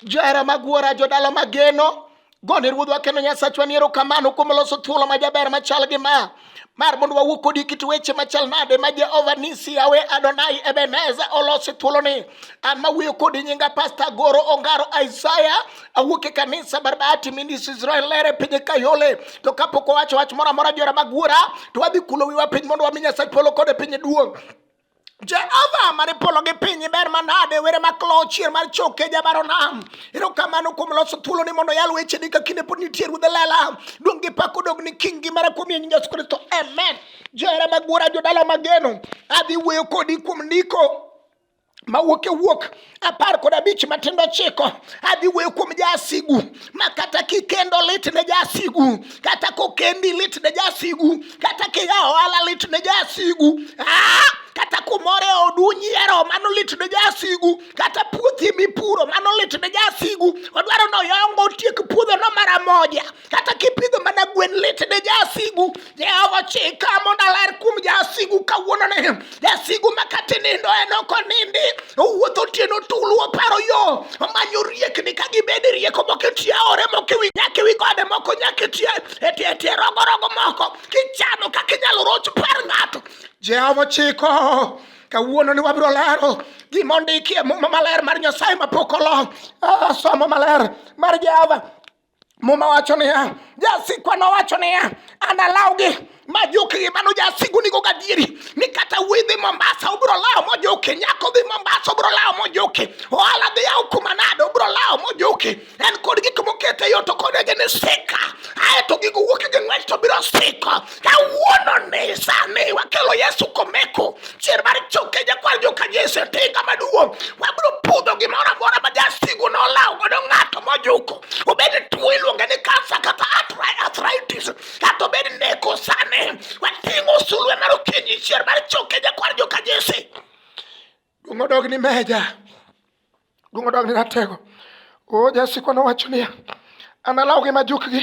Johera mag wuora, jodala mageno, gone ruodhwa kendo nyasachwa ni erokamano kuom loso thuolo ma jaber machal gi ma mar mondo wawuo kodi kit weche machal nade ma jehova nisi yawe adonai ebeneza olosi thuoloni an mawuoyo kodi nyinga pasta goro ongaro isaya awuok e kanisa barbati minis israel lere piny kayole to kapok owacho wach moro amora jora mag wuora to wadhi kulo wiwa piny mondo wami nyasach polo kod e piny duong' Jehova mane polo gi piny ber manade were ma klo chier mar choke jabaro nam ero kamano kuom loso thuolo ni mondo yal weche ni ka kinde pod nitie ruodhe lela duong' gi pak odog ni king gi mara kuom yenyinga yesu kristo amen johera magwora jodala mageno adhi wuoyo kodi kuom ndiko mawuok e wuok apar kod abich matindo chiko adhi wuoyo kuom jasigu ma kata kikendo lit ne jasigu kata kokendi lit ne jasigu kata kiya ohala lit ne jasigu ah! kata kumoro e odu nyiero mano lit ne jasigu kata puothi mipuro mano lit ne jasigu odwaro ni oyongo otiek puodhono mara moja kata kipidho mana gwen lit ne jasigu jehova chika mondo aler kuom jasigu kawuono ne jasigu ma kata nindo en ok onindi owuotho otieno tulu oparo yo omanyo riekni ka gibed rieko moko etie aore moko ewi nyaka ewi gode moko nyaka etie etie etie rogorogo moko kichano kaka inyalo roch par ng'ato jehova chiko kawuono ni wabiro lero gima ondiki e muma maler mar nyasaye mapok olok ah, somo maler mar jehova muma wacho niya jasikwa nowacho niya an alawgi ma jokegi mano jasigu nigo gadieri ni kata wuoyi dhi mombasa ubiro lawo mojoki nyako dhi mombasa ubiro lawo mojoki ohala dhi yawo kuma nade ubiro lawo mojoki en kod gik mokete yo to kod ege ni sika aeto gigo wuoki gi ng'wech to biro siko kawuononi sani wakelo yesu komeko chier mar choke jakwar joka jesu e tinga maduong' wabiro pudho gimoro amora ma jasigu nolawo godo ng'ato mojuko obed tuo iluonge ni kansa kata arthritis kata obed neko sani wating'o sulwe mar okinyi chier mar choke jakwar joka jesu Duong' odog ni meja. Duong' odog ni ratego. O jasikwa nowacho niya, analawgi majukgi,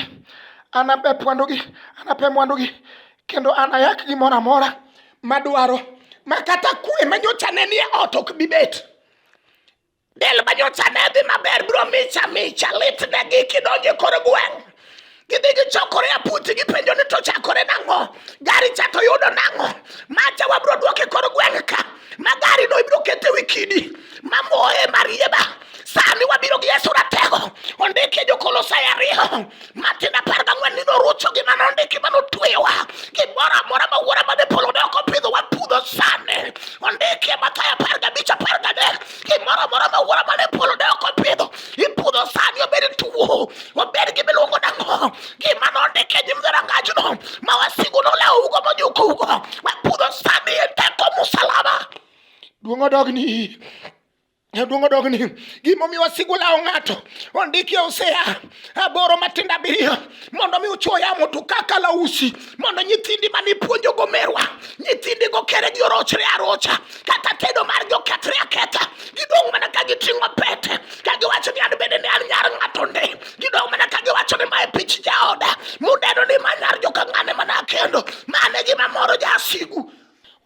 anabep mwandugi, anape mwandugi, kendo anayak gimoro amora madwaro ma kata kwe ma nyocha ne nie ot ok bi bet. Del ma nyocha ne dhi maber biro micha micha litnegi kidonjo e kor gweng'. gidigi chokore a puthi gipenjo ni to chakore nang'o gari cha to yudo nang'o macha wabiro duoke kor gweng' ka ma gari no ibiro kete wi kidi mamoye marieba sani wabiro gi yesu ratego ondike jokolosai ariyo matin apar gang'wen ni norucho gi mano ondiki ma notweyowa gimoro amora ma wuora mane polo ne ok opidho wapudho sani ondike mathayo apar gabich apar gadek gimoro amora ma wuora mane polo ne ok opidho ipudho sani obed tuo obed gi miluongo nang'o gima nondike nyim dhorangajno ma wasigu nolewugo mojukugo wapudho sani e teko musalaba duong' odogni Duong' odog ni gimomiyo wasigu lawo ng'ato ondiki e Hosea aboro matindo abiriyo mondo mi uchuo yamo to kaka lausi mondo nyithindi mane ipuonjo go merwa nyithindi go kere gi orochre arocha kata tedo mar gi okethre aketha gidong' mana ka giting'o pete ka giwacho ni an bende ne an nyar ng'ato nde gidong' mana ka giwacho ni mae pich jaoda mudeno ni ma nyar joka ng'ane mana akendo mane gima moro jasigu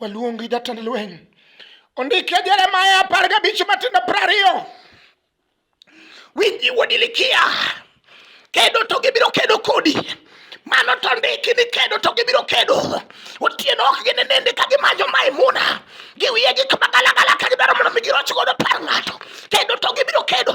waluongi jatend lweny ondike jeremaya apar gabich matindo prariyo winji wuodi likia kedo to gibiro kedo kodi mano to ndiki ni kedo to gibiro kedo otieno ok ginenende ka gimanyo maimuna giwiye gi kamagalagala ka gidwaro mondo mi giroch godo par ng'ato kedo to gibiro kedo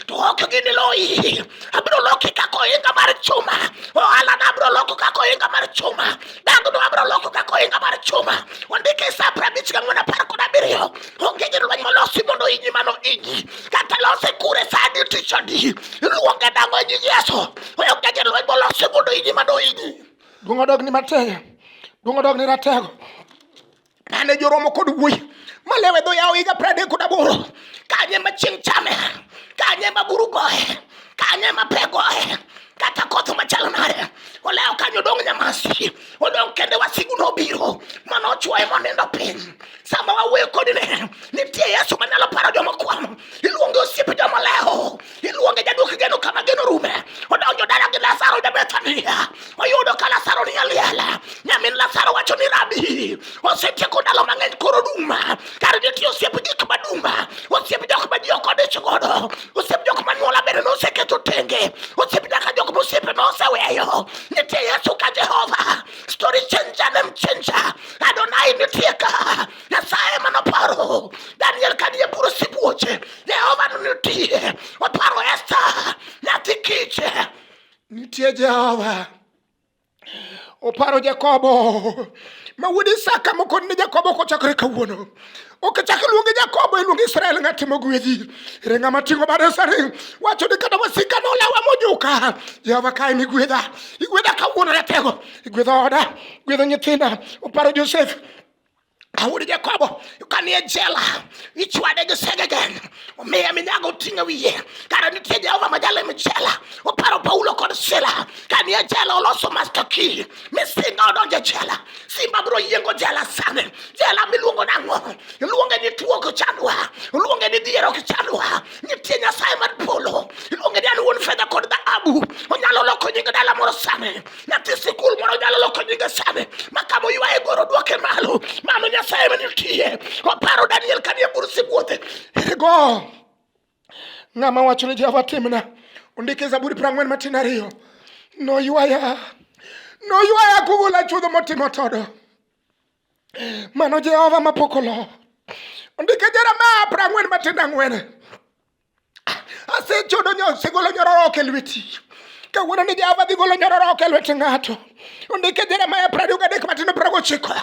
to ok giniloyi abiro loki kaka ohinga mar chuma ohalana abiro loko kaka ohinga mar chuma dangno abiro loko kaka ohinga mar chuma ondiki sa prabich gang'wen apar kod abiriyo onge gi lweny molosi mondo inyi mano inyi kata lose kure sani tichoni iluonge dang'o e nying yesu onge gi lweny molosi mondo inyi mano inyi duong' odog ni matego duong' odog ni ratego mane joromo kod wuoyi malewe dho yawo higa pradek kod aboro kanye ma chieng' chame kanye ma buru goye kanye ma pe goye kata koth machalo nade olewo kanyo odong' nyamasi odong' kende wasigu nobiro mana ochwoye monindo piny sama wawuoyo kodi ne nitie yesu manyalo paro joma kwano iluonge osiepe joma lewo iluonge jaduok geno kama geno rume odonjo dala gi lasaro ja bethania oyudo ka lasaro ni aliela nyamin lasaro wacho ni rabi osetieko ndalo mang'eny koro duma kar jotiyo osiep gik maduma osiep jok ma ji ok odich godo Osiep jok ma nyuola bende noseketo tenge. Osiep nyaka jok ma osiepe noseweyo. Nitie Yesu ka Jehova. Story changer name changer. Adonai nitie ka. Nyasaye ema noparo. Daniel ka nie bur sibuoche. Jehova nitie. Oparo Esther. Nyathi kich. Nitie Jehova. oparo Jakobo ma wuod Isaka mokon ne Jakobo kochakore kawuono. Ok chak luonge Jakobo, iluonge Israel ng'at mogwedhi. Ere ng'ama ting'o bade sari wacho ni kata wasika nolawa mojuka. Jehova kae ni gwedha, igwedha kawuono ratego, igwedho oda, igwedho nyithinda. Oparo Josef Daudi Jakobo kanie jela ichwade gi segegen omiye minyago oting'e wiye kara nitie Jehova ma jale mi jela oparo Paulo kod Sila kanie jela oloso master key misinga odonjo e jela simba biro yiengo jela sani jela miluongo nang'o iluonge ni tuo ok chandwa iluonge ni dhier ok chandwa nitie Nyasaye mar polo iluonge ni an wuon fedha kod dhahabu onyalo loko nying dala moro sani nyathi sikul moro nyalo loko nyinge sani ma kama oywaye goro dwoke malo mano nyasaye ma nitie oparo daniel kanie bur sibuothe ergo ng'ama wacho ni jehova timna ondike zaburi prang'wen matin ariyo noywaya noywaya kugula chudho motimo todo mano jehova mapok olo ondike jeremia prang'wen matin ang'wen Asechodo nyo, segolo nyororo ok e lweti. Kawuono ni Jehova dhi golo nyororo ok e lwet ng'ato. Ondike Jeremia piero ariyo gadek matindo piero gochiko.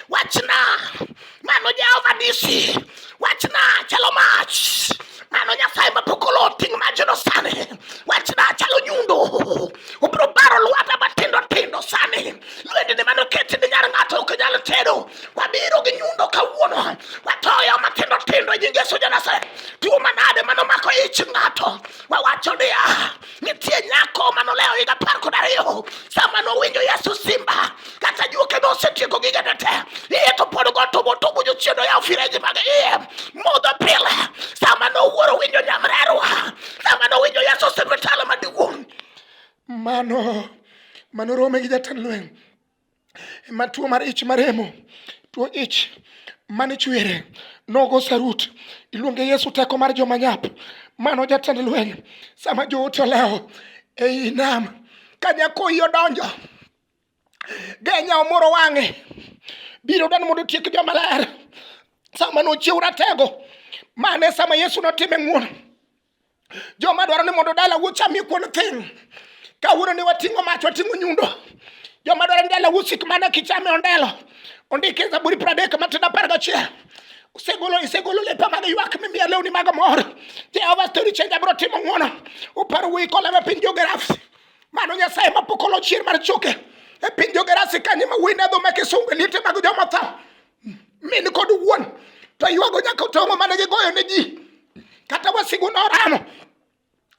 Wachna, mano Jehova disi. Wachna, chalo mach. Mano Nyasaye mapok olo ting' majno sani. Wachna, chalo nyundo. Obiro baro lwata matindo tindo sani. Lwendene mano keti ni nyar ng'ato ok nyal tedo. wabiro gi nyundo kawuono watoyo matindo tindo e nying yesu janasare tuo manade manomako ich ng'ato wawacho niya nitie nyako manolewo higa apar kod ariyo sama nowinjo yesu simba kata juoke nosetieko gigene te iye to pod go tubo tubo jochiendo yawo fireji mag iye modho pile sama nowuoro winjo nyamrerwa sama nowinjo yesu sipitala maduong' mano mano rome gi jatend lweny ma tuo mar ich maremo tuo ich mane chwere nogo sarut iluonge Yesu teko mar joma nyap mano jatend lweny sama joote olewo ei nam ka nyakoyi odonjo genya omoro wang'e biro dan mondo otiek joma ler sama nochiw ratego mane sama Yesu notime ng'wono joma dwaro ni mondo dala wuo chamie kuon thin kawuono ni wating'o mach wating'o nyundo joma dwaro ni dala wuo sik mana kichame ondelo ondike zaburi pradek matin apar gachiel usegolo isegolo lepa mag ywak mimiya lewni mag mor jehova stori chenja biro timo ng'wono uparo wuyi koleme piny jogerasi mano nyasaye mapok olo chier mar choke e piny jogerasi kanye ma wuyi ne dho ma kisungu e liete mag joma tho min kod wuon to ywago nyaka otong'o mane gigoyo ne ji kata wasigu noramo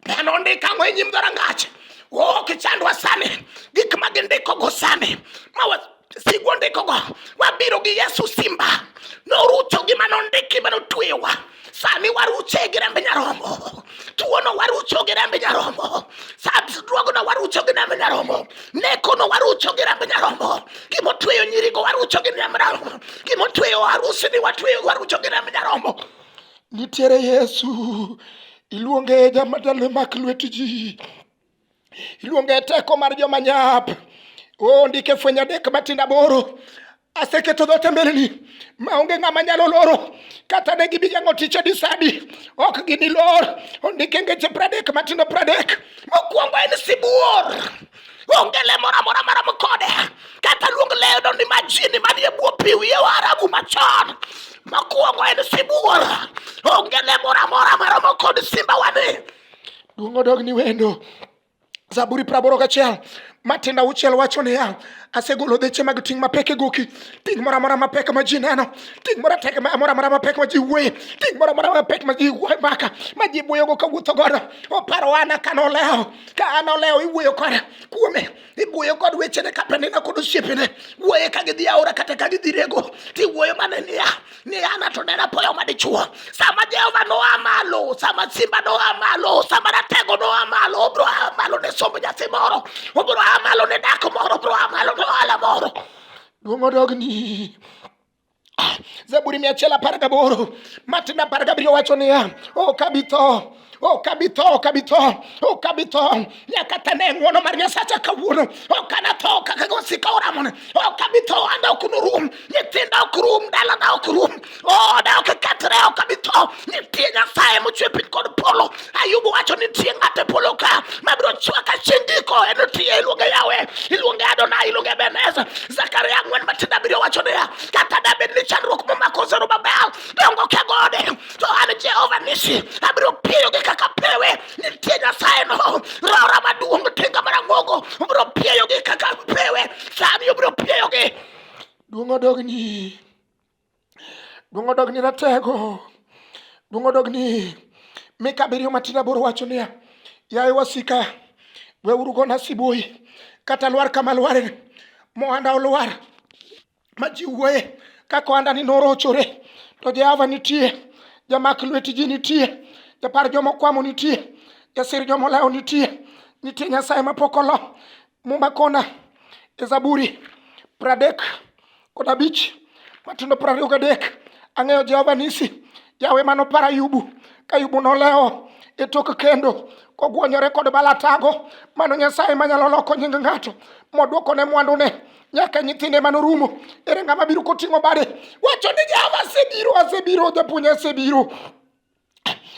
neno ondik ang'o e nyim dhorangach ok chandwa sani gik ma gindikogo sani ma wasigu ondikogo wabiro gi yesu simba norucho gima nondiki ma notweyowa Sani waruche gi remb nyarombo. Tuono warucho gi remb nyarombo. Sadruogno warucho gi remb nyarombo. Nekono warucho gi remb nyarombo. Gima otweyo nyirigo warucho gi remb nyarombo. Gima otweyo arusini watweyo warucho gi remb nyarombo. Nitiere Yesu. Iluonge jamadalo mak lwet ji. iluonge teko mar joma nyap o ndike fweny adek matindo aboro aseketo dhoot e mbeleni maonge ng'ama nyalo loro kata ne gibigeng'o tich e disadi ok ginilor ondike ngeche pradek matindo pradek mokwongo en sibuor onge le moro amora marom kode kata luong lendo ni majini manie bwo pi wiye warabu machon mokwongo en sibuor onge le moro amora maromo kod simba wani Duong' odog ni wendo. Zaburi praboro gachiel matinda auchiel wacho niya, asegolo dheche mag ting' mapek e goki, ting' moro amora mapek ma ji neno, ting' moro amora mapek ma ji wuoye, ting' moro amora mapek ma ji maka, ma ji wuoyogo ka wuotho godo. Oparo an ka nolewo, ka an olewo iwuoyo kode kuome. iwuoyo kod wechene ka penina kod osiepene wuoye ka gidhi aora kata ka gidhi rego tiwuoyo mana niya niya ng'ato ne apoya madichuo sama jehova noa malo sama simba noa malo sama ratego noa malo obro a malo ne somb nyathi moro obro a malo ne dak moro obro a malo ne ohala moro duong' odogni Ah, Zaburi mia achiel apar gaboro Martin apar gabiriyo wacho niya, ok oh, abi tho ok abi tho ok abi tho ok abi tho nyaka tane e ng'wono mar nyasacha kawuono ok anatho kaka gosika oramone ok abi tho anda ok norum nyithinda ok rum dalana ok rum oda ok kethre ok abi tho nitie nyasaye mochwe piny kod polo Ayubu wacho ni tie ng'ato e polo ka mabiro chwaka chindiko en otiye iluonge yawe iluonge adona iluonge beneza zakaria ang'wen matinda abiriyo wacho niya kata dabed ni chandruok momako zerubabel dongo ke gode to an jehova nisi abiro piyogi kaka pewe nitie nyasaye no rora maduong' tinga marang'ongo obiro piyogi kaka pewe sani obiro piyogi duong' odogni Duong' odog ni ratego. Duong' odog ni mika abiriyo matin aboro wacho niya, yaye wasika, weuru gona sibuoyi, kata lwar kama lware mohanda olwar ma ji wuoye kaka ohandani norochore, to Jehova nitie, jamak lweti ji nitie, japar joma okwamo nitie, jasir joma olawo nitie, nitie Nyasaye mapok olo, Muma kona e Zaburi pradek kod abich matindo prariyo gadek ang'eyo Jehova nisi Yawe mano para Ayubu ka Ayubu nolewo e tok kendo kogwonyore kod balatago mano Nyasaye manyalo loko nying ng'ato modwoko ne mwandune nyaka nyithinde mane orumo ere ng'ama biro koting'o bade wacho ni jehova asebiro asebiro japuonj asebiro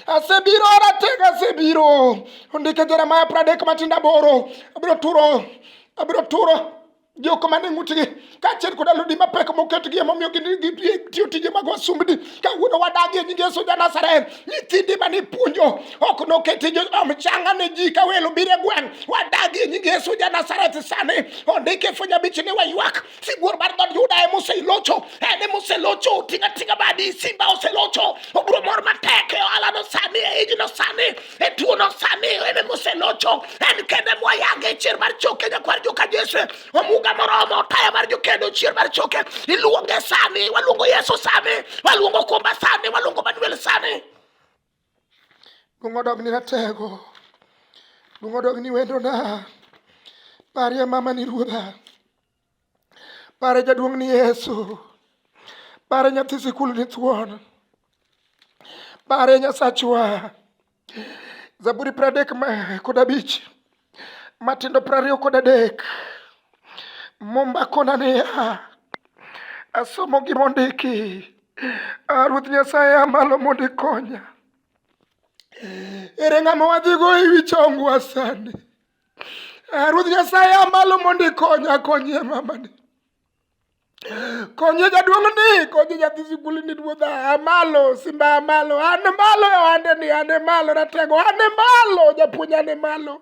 asebiro ratega asebiro ondike jeremaya pradek matinda boro abiro turo abiro turo jok mane ng'utgi kaachiel kod alodi mapek moketgi emomiyo gitiyo tije mag wasumbni kawuono wadagie nying yesu ja nazareth nyithindi mane ipuonjo ok noketi mchanga ne ji ka welo biro e gweng' wadagie nying yesu ja nazareth sani ondike fwenyo abich ni waywak sibuor mar dhood Juda ema oselocho, en ema oselocho, otinga tinga badi, simba oselocho, obro mor matek e ohala no sani, e iji no sani, e tuo no sani, en ema oselocho, en kende moyage e chier mar choke, nyakwar joka Jesu, omuga moromo, taya mar jokendo, chier mar choke, iluonge sani, waluongo Yesu sani, waluongo Kumba sani, waluongo Manuel sani. Luong odogni ratego. Luong odogni wendona. Parie mama ni ruodha. Pare jaduong' ni Yesu. Pare nyathi sikul ni thuon. Pare nyasachwa. Zaburi pradek kod abich. matindo piero ariyo kod adek mombakona niya asomo gima ondiki ah, ruoth nyasaye amalo mondo ikonya ere ng'ama wadhigo e wi chongwa sani ah, ruoth nyasaye amalo mondo ikonya akonyie mamani Konye jaduong' ni, konye nyathi sikul ni ruodha, a malo, simba a malo, an malo e ohande ni, an e malo, ratego, an e malo, japuonj an e malo.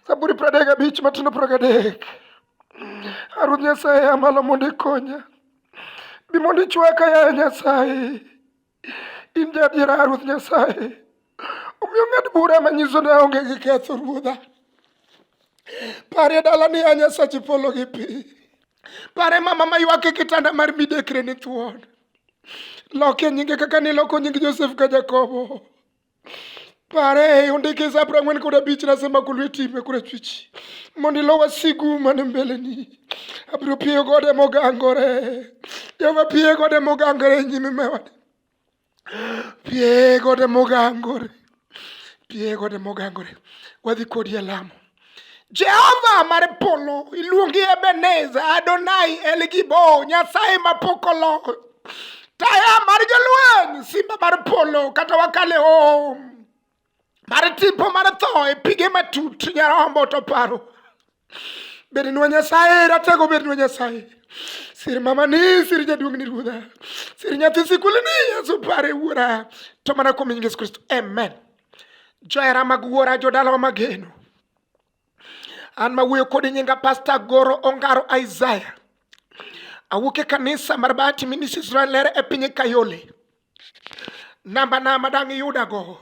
Zaburi piero adek gabich matindo piero gadek. A Ruoth Nyasaye a malo mondo ikonya. Bi mondo ichwaka, yaye Nyasaye. In jadiera, Ruoth Nyasaye, omiyo ng'ad bura manyiso ni aonge gi ketho, Ruodha. Pare dala ni a Nyasachi polo gi piny. Pare mama maywak e kitanda mar midekre ni thuon. Loke nyinge kaka niloko nying Josef ka Jakobo. Pare e ondike za apar ang'wen kod abich nasema kulu itime kure chwichi mondo ilo wasigu mane mbeleni abiro piyo gode mogangore jehova piye gode mogangore e nyime mewade piye gode mogangore piye gode mogangore wadhi kodi e lamo Jehova mar polo iluongi Ebenezer Adonai El Gibo Nyasaye ma pok olo taya mar jolweny simba mar polo kata wakale o mar tipo mar tho e pige matut nyarombo to paro bednwa Nyasaye ratego bednwa Nyasaye sir mamani sir jaduong'ni ruodha sir nyathi sikulini Yesu pare wuora to mana kuom Yesu Kristo amen Johera mag wuora jodalawa mageno. An ma wuoyo kod nyinga Pastor Goro Ongaro Isaiah. Awuok e kanisa mar Bahati Ministries Rwalere e piny Kayole. Namba na ma dang' iyuda go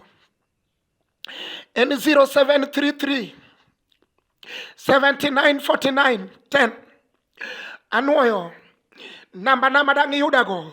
en 0733 7949 10. Anwoyo namba na ma dang' iyuda go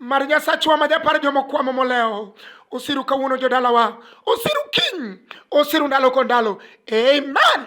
Mar Nyasachwa ma japar joma okwamo molewo, osiru kawuono jodalawa, osiru kiny, osiru ndalo kod ndalo. Amen.